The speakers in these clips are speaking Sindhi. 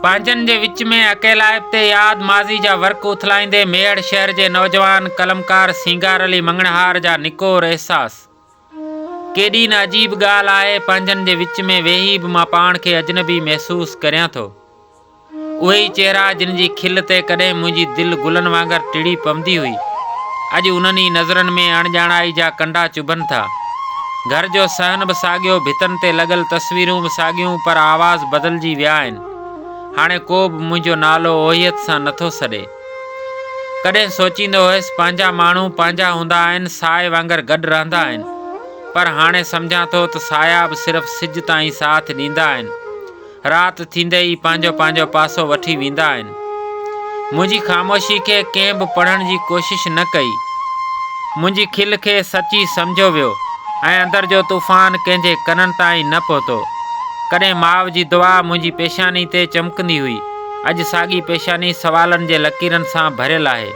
پنهنجن جي وچ ۾ اڪيلائپ تي ياد ماضي جا ورق اٿلائيندي ميهڙ شهر جي نوجوان قلمڪار سينگار علي مڱڻهار جا نڪور احساس. ڪيڏي نه عجيب ڳالهه آهي پنهنجن جي وچ ۾ ويهي به مان پاڻ کي اجنبي محسوس ڪريان ٿو. اهي ئي چهرا جن جي کل تي ڪڏهن منهنجي دل گلن وانگر ٽڙي پوندي هئي اڄ انهن ئي نظرن ۾ اڻڄاڻائي جا ڪنڊا چڀن ٿا. گهر جو صحن به ساڳيو، ڀتن تي لڳل تصويرون به ساڳيون پر آواز بدلجي ويا آهن. هاڻي ڪو به منهنجو نالو اوهيت سان نه ٿو سڏي. ڪڏهن سوچيندو هيس پنهنجا ماڻهو پنهنجا هوندا آهن، سايي وانگر گڏ رهندا آهن. پر هاڻي سمجهان ٿو ته سايا به صرف سج تائين ساٿ ڏيندا آهن. رات ٿيندي ئي پنهنجو پنهنجو پاسو وٺي ويندا آهن. منهنجي خاموشي کي ڪنهن به پڙهڻ جي ڪوشش نه ڪئي. منهنجي کل کي سچي سمجهيو ويو ۽ اندر جو طوفان ڪنهن جي ڪنن تائين نه پهتو. ڪڏهن ماء جي دعا منهنجي پيشاني تي چمڪندي هئي. اڄ ساڳي پيشاني سوالن جي لڪيرن سان ڀريل آهي.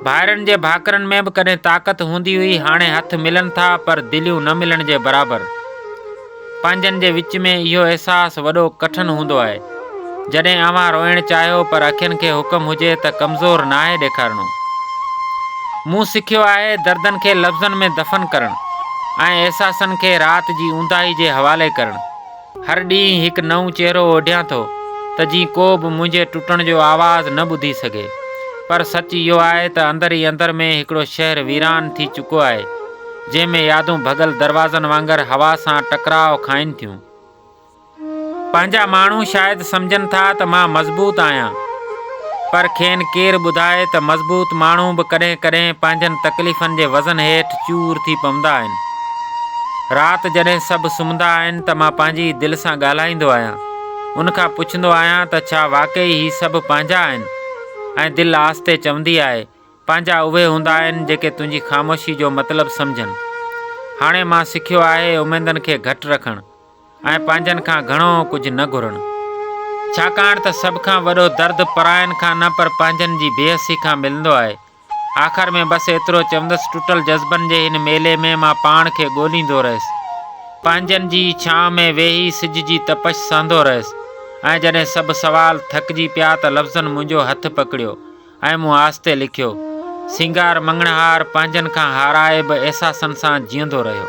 ڀائرن جي ڀاڪرن ۾ به ڪڏهن طاقت هوندي هئي، هاڻي هٿ ملن ٿا پر دليون نه ملڻ جي برابر. پنهنجن جي وچ ۾ اهو احساس وڏو ڪٺن هوندو آهي. جڏهن اوهان روئڻ چاهيو پر اکين کي حڪم هجي ته ڪمزور ناهي ڏيکارڻو. مون سکيو آهي دردن کي لفظن ۾ دفن ڪرڻ ۽ احساسن کي رات جي اونداهي جي حوالي ڪرڻ. هر ڏينهن هڪ نئون چهرو اوڍيان ٿو ته جيئن ڪو به منهنجي ٽٽڻ جو آواز نه ٻڌي سگهي. پر سچ اهو آهي ته اندر ئي اندر ۾ هڪڙو شهر ويران ٿي چڪو آهي. جنهن ۾ يادون ڀڳل دروازن وانگر هوا سان ٽڪراء کائن ٿيون. پنهنجا ماڻهو شايد سمجهن ٿا ته مان مضبوط آهيان، پر کين ڪير ٻڌائي ته مضبوط ماڻهو به ڪڏهن ڪڏهن پنهنجن تڪليفن جي وزن هيٺ چور ٿي پوندا آهن. رات جڏهن سڀ سمهندا آهن ته مان پنهنجي ئي دل سان ڳالهائيندو آهيان، ان کان پڇندو آهيان ته ڇا واقعي هي سڀ پنهنجا آهن؟ ۽ دل آهستي چوندي آهي پنهنجا اهي هوندا آهن جيڪي تنهنجي خاموشي جو مطلب سمجهن. هاڻي مان سکيو آهي اميدن کي گهٽ رکڻ ۽ پنهنجن کان گهڻو ڪجهه نه گهرڻ. ڇاڪاڻ ته سڀ کان وڏو درد پراين کان نه پر پنهنجن جي بي حسي کان ملندو آهي. آخر ۾ بس ايترو چوندس ٽٽل جذبن جي هن ميلي ۾ مان پاڻ کي ڳوليندو رهيس. پنهنجن جي ئي ڇانء ۾ ويهي سج جي تپش سهندو رهيس ۽ جڏهن سڀ سوال ٿڪجي پيا ته لفظن منهنجو هٿ پڪڙيو ۽ مون آهستي لکيو، سينگار مڱڻهار پنهنجن کان هارائي به احساسن سان جيئندو رهيو.